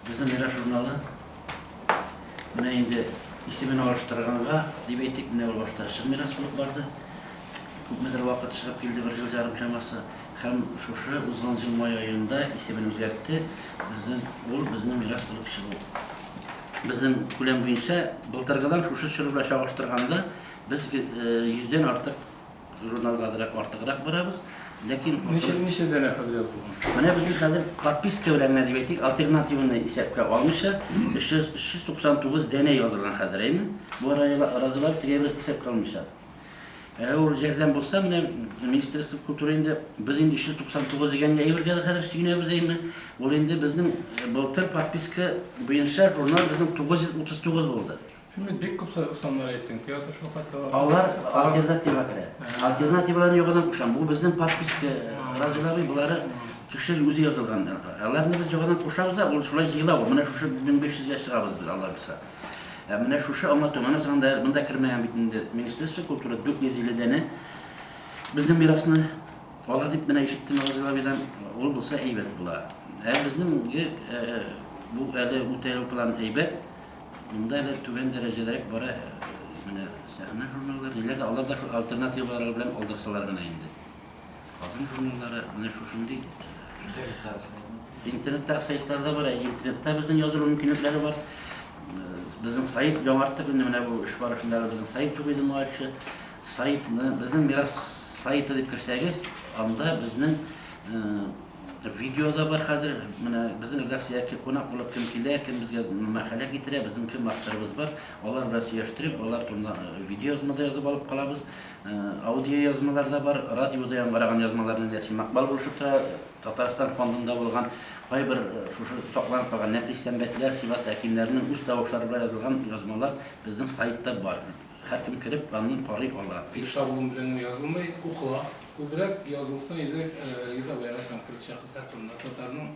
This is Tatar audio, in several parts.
Безнең Мирас журналы менә инде исемен алыштырганга, дип әйтик, менә ул башта чын мирас булып барды. Күпмедер вакыт чыгып килде, бер ел ярым чамасы. Һәм шушы узган ел май аенда исемен үзгәртте. Безнең ул безнең мирас булып чыгу. Безнең күләм буенча былтыргыдан шушы чор белән чагыштырганда без йөздән артык Журналга азрак артыграк барабыз, ләкин... Ничә, ничә дәнә хәзер язылган? Менә безнең хәзер подписка белән генә дип әйтик, альтернативны исәпкә алмыйча, 300, 399 дәнә язылган хәзер, әйме? Бу разылар тегә бер исәпкә алмыйча. Әгәр ул җәрдәм булса, менә Министерство культуры инде, без инде 399 дигән әйбергә дә хәзер сөенәбез, әйме? Ул инде безнең былтыр подписка буенча журнал безнең 939 булды. Син бит бик күп саннар әйттең, театр шул хәтта бар. Алар альтернатива керә. Альтернативалар югына кушам. Бу безнең подписка разилары, булары кеше үзе язылган. Аларны без югына кушабыз да, ул шулай җыйлау. Менә шушы 1500 гә чыгабыз без Аллаһ булса. Ә менә шушы аңа томана санда монда кермәгән бит инде Министерство культуры 450 дәне безнең мирасны ала дип менә ишеттем Разилабидан. Ул булса әйбәт була. Ә безнең бу әле үтә план әйбәт. Монда әле түбән дәрәҗәдәрәк бара менә сәхнә журналлары, ниләр дә, алар да шул альтернативалары белән алдырсалар гына инде. Хатын журналлары менә шушындый интернеттагы сайтлар да бар, ә интернетта безнең язылу мөмкинлекләре бар. Безнең сайт яңарттык инде менә бу эш барышында да безнең сайт юк иде моңарчы. Сайтны, безнең мирас сайты дип керсәгез, анда безнең Видео да бар хәзер. Менә безнең редакциягә кем кунак булып кем килә, кем безгә мәкалә китерә, безнең кем авторыбыз бар. Алар белән сөйләштереп, алар турында видеоязма да язып алып калабыз. Аудиоязмалар да бар, радиода яңгыраган язмаларның Ясин Макбал булышып тора. Татарстан фондында булган кайбер шушы сакланып калган Нәфис Сәмбәтләр, Сибат Әкимнәрнең үз тавышлары белән язылган язмалар безнең сайтта бар. Һәркем кереп, аны карый ала. Ир чабуым белән генә язылмый, укыла. Күбрәк язылса иде Риза Бәйрәм конкрет шәхесләр турында, татарның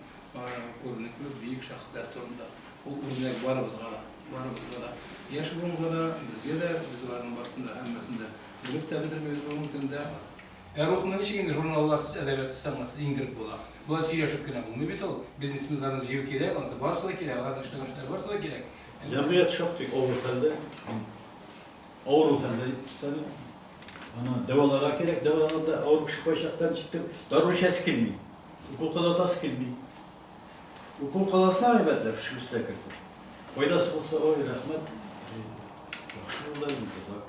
күренекле бөек шәхесләр турында. Ул үрнәк барыбызга да, барыбызга да, яшь буынга да, безгә дә, без аларның барысын да, һәммәсен дә белеп тә бетермибез бүгенге көндә. Ә рухны ничек инде журналларсыз, әдәбиятсыз, сәнгатьсез иңдереп була? Болай сөйләшеп кенә булмый бит ул. Бизнесменнарны җыю кирәк, анысы барысы да кирәк, аларның эшләгән эшләре барысы да кирәк. Җәмгыять шактый авыр хәлдә. Авыру хәлдә дип өстәде. Аны дәваларга кирәк, дәваларда авыр кеше кайчакта җиттек, дару эчәсе килми, укол кадатасы килми. Укол кадасына гайбәтләп шелестә кертеп. Файдасы булса, ой, рәхмәт. Яхшы булды инде.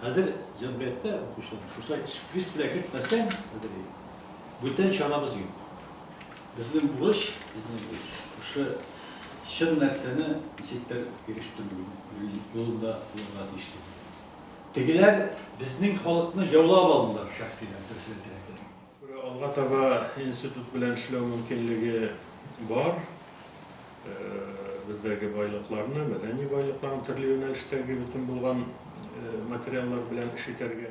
Хәзер җәмгыятьтә укучылар шушай шприц белән кертмәсәң, хәзер бүтән чарабыз юк. Безнең бурыч, безнең бурыч, шушы чын нәрсәне ничектер ирештерү юлында булырга тиеш дип уйлыйм. Тегеләр безнең халыкны җаулап алдылар, шәхсиләр, дөресен әйтергә кирәк. Алга таба институт белән эшләү мөмкинлеге бар. Бездәге байлыкларны, мәдәни байлыкларны төрле юнәлештәге бөтен булган материаллар белән эш итәргә.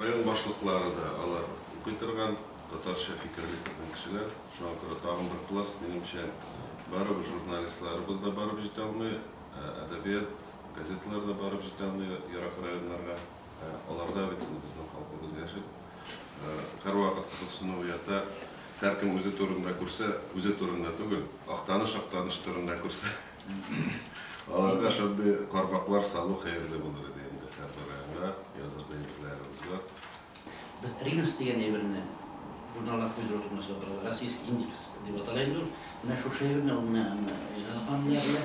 Район башлыклары да алар укый торган, татарча фикерли торган кешеләр. Шуңа күрә тагын бер пласт, минемчә, барыбер журналистларыбыз да барып җитә алмый, әдәбият, газеталар да барып җитә алмый ерак районнарга. Ә аларда бит инде безнең халкыбыз яши. Һәрвакыт кызыксыну уята. Һәркем үзе турында күрсә, үзе турында түгел, Актаныш, Актаныш турында күрсә. Аларга шундый кармаклар салу хәерле булыр иде инде һәрбер районга, язырга әйберләребез бар. Без ринос дигән әйберне журналга куйдыру турында сөйләп торабыз. Российский индекс дип атала инде ул. Менә шушы әйберне ул менә аны Илһам ханым да белә.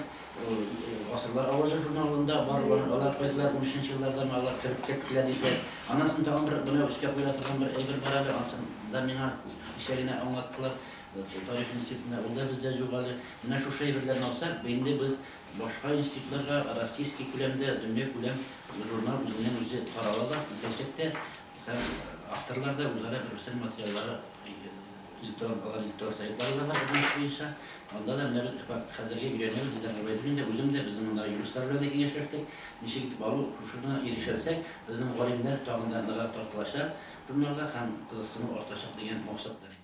Ул Гасырлар авазы журналында бар ул. Алар куйдылар, унөченче елларда менә алар кереп киттеләр диләр. Аннан соң тагын бер менә өскә куела торган бер әйбер бар әле, ансын да миңа кичә генә аңлаттылар. Тарих институтына, ул да бездә юк әле. Менә шушы әйберләрне алсак, бу инде без башка институтларга российский күләмдә, дөньякүләм журнал үзеннән-үзе тарала да, киләчәк тә һәм авторлар да үзара бер-берсенең материаллары электрон, алар электрон сайтлары да бар язмыш буенча, анда да менә без факт хәзергә өйрәнәбез, Илдар Гобәйдуллин дә, үзем дә, безнең мондагы юристлар белән дә киңәшләштек, ничек итеп алу, шушына ирешәлсәк, безнең галимнәр тагын да ныграк тартылачак журналга һәм кызыксыну артачак дигән максат белән.